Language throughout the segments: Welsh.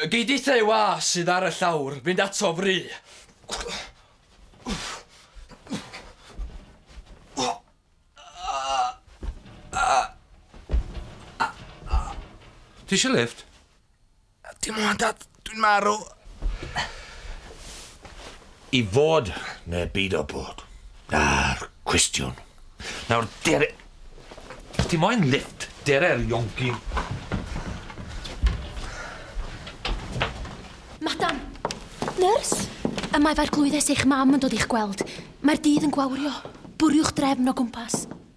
Gei di te wa sydd ar y llawr fynd ato fry. Ti eisiau lift? Dim ond dad, dwi'n marw. I fod neu byd o bod. Na'r cwestiwn. Nawr dere... Os ti moyn lift, dere'r ionci. Madam! Nyrs! Y mae fair glwyddes eich mam yn dod i'ch gweld. Mae'r dydd yn gwawrio. Bwriwch drefn o gwmpas.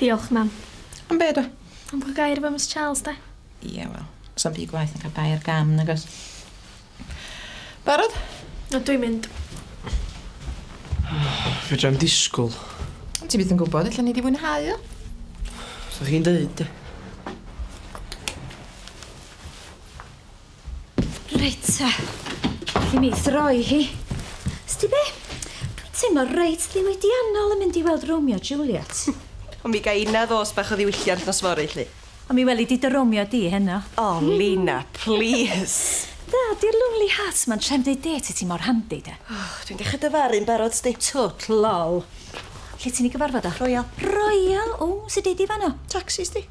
Diolch, mam. Am be do? Am bod gair efo Miss Charles, de? Ie, wel, so'n ddi gwaith yn cael bai ar gam, nag oes? Barod? O, dwi'n mynd. Fedrai'm disgwyl. Ond ti byth yn gwybod, allan ni di fwynhau o. Sa chi'n deud, de? Reit, ta. Alli mi throi hi. Sti be? Dwi'n teimlo reit ddiwydiannol yn mynd i weld Romeo Juliet. Ond mi ga inna ddos bach o ddiwylliant nos fory, lli. Ond mi weli di dy Romeo di heno. O, Lina, plîs! Da, di'r lonely hearts ma'n trem deud dêt i ti mor handi, de. Och, dwi'n dechra dyfaru'n barod, sti. Twt, lol. Lle ti'n i gyfarfod o? Royal. Royal? O, sut deud di fanno? Tacsi, sti.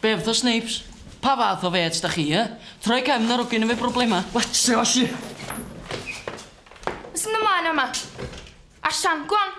Bev the Snapes, pa fath o fêts da chi, yy? Troi cefn ar ogyn efo broblema? Let's go, shit! Sy'n ymlaen yma? Allan, go on!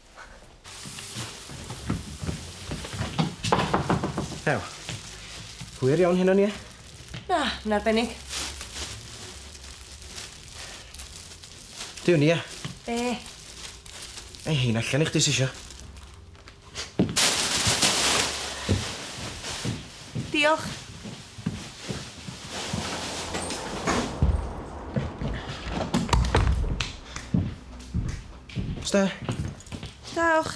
Ew. Hwyr iawn hyn o'n i e? Na, yn arbennig. Dyw ni e? Be? Ei hyn allan i chdi sisio. Diolch. Os da. Dewch.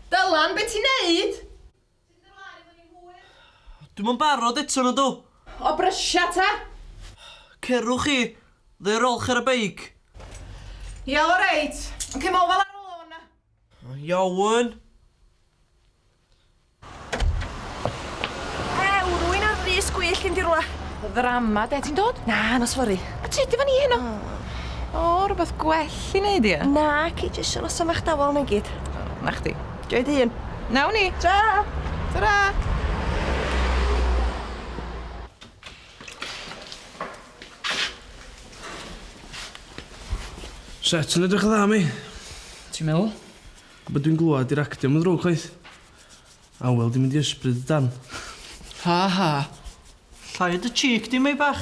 Dylan, be ti'n neud? Dwi'm yn barod eto na dw? O brysia ta! Cerwch chi, ddeu rolch ar y beic. Ia oreit, ond cem ofal ar ôl hwn. Iawn. Ew, rwy'n ar frys gwyllt gen di rwla. Ddrama de, ti'n dod? Na, na sori. A tyd efo ni heno. O, rwbeth gwell i neud ia? Naci, jyst siarad am eich dawel na i gyd. Na chdi. Joio dy hun. Nawn ni! Tra! Tara! Set yn edrych yn dda mi. Ti'n meddwl? Be dwi'n glwad di'r actio yn ddrwg chwaith. Awel di mynd i ysbryd y dan. Ha ha. Llai o dy cheek di, Meibach.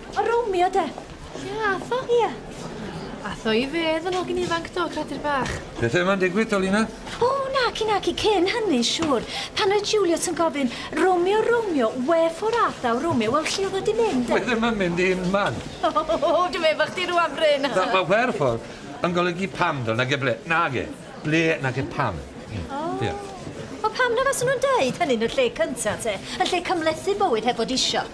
O Romeo de. Ie, Atho? Ie. Atho i fedd yn hogyn ifanc do, credir bach. Pethau yma'n digwydd, Dolina? O, naci, naci, cyn hynny, siŵr. Pan oedd Juliet yn gofyn, Romeo, Romeo, wherefore art thou, Romeo, wel, lle oedd o di mynd? Dwi ddim yn mynd i'n man. O, oh, oh, oh, dwi'n meddwl chdi rwan, Bryn. Da, mae wherefore yn golygu pam, do, nag e ble, nag e, ble, nag e pam. Mm. O. Oh. Yeah. O pam na faswn nhw'n deud hynny'n y lle cynta te, yn lle cymlethu bywyd heb fod isio.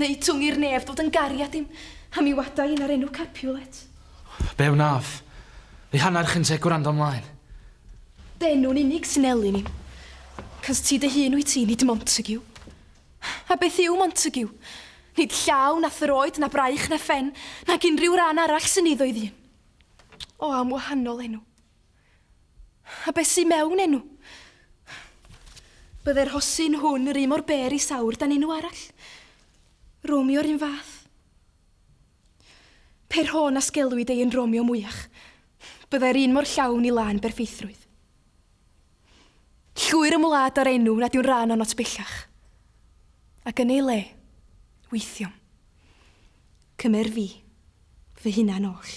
Neu twng i'r nef ddod yn gariad i'm, a mi wada i na'r enw Capulet. Be wnaf? Fi hanner chyn te gwrando mlaen. Dy enw'n unig sy'n elyn i'm. Cys ti dy hun wyt ti, nid Montague. A beth yw Montague? Nid llaw, na throed, na braich, na phen, nag unrhyw ran arall sy'n eiddo i ddyn. O, am wahanol enw. A beth sy'n mewn enw? Byddai'r hosyn hwn yr un mor ber i sawr dan enw arall. Romeo yr un fath. Pe rho na sgelwyd ei yn Romeo mwyach, byddai'r un mor llawn i lân berffeithrwydd. Llwyr ymwlad â'r enw nad yw'n rhan o'n ots bellach. Ac yn ei le, weithiom. Cymer fi, fy hunan oll.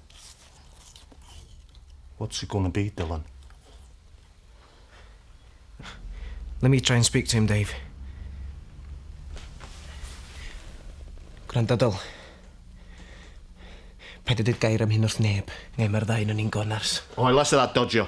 What's it gonna be, Dylan? Let me try and speak to him, Dave. Gwranda, Dyl. Paid â deud gair am hyn wrth neb. Neu mae'r ddau onon ni'n gonars. Oh, I less of that dodjo.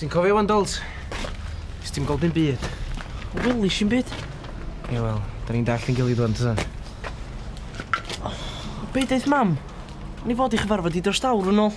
Ti'n cofio wan, Dols? Nes ti'n gweld dim byd. O, welis i'n byd. Ie, wel, da ni'n dall yn gilydd wan, ta? O, beth eith mam? Ni fod i chyfarfod i dros dawr yn ôl.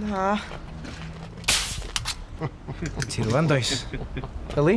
Na. Ti rwan, does? Yli?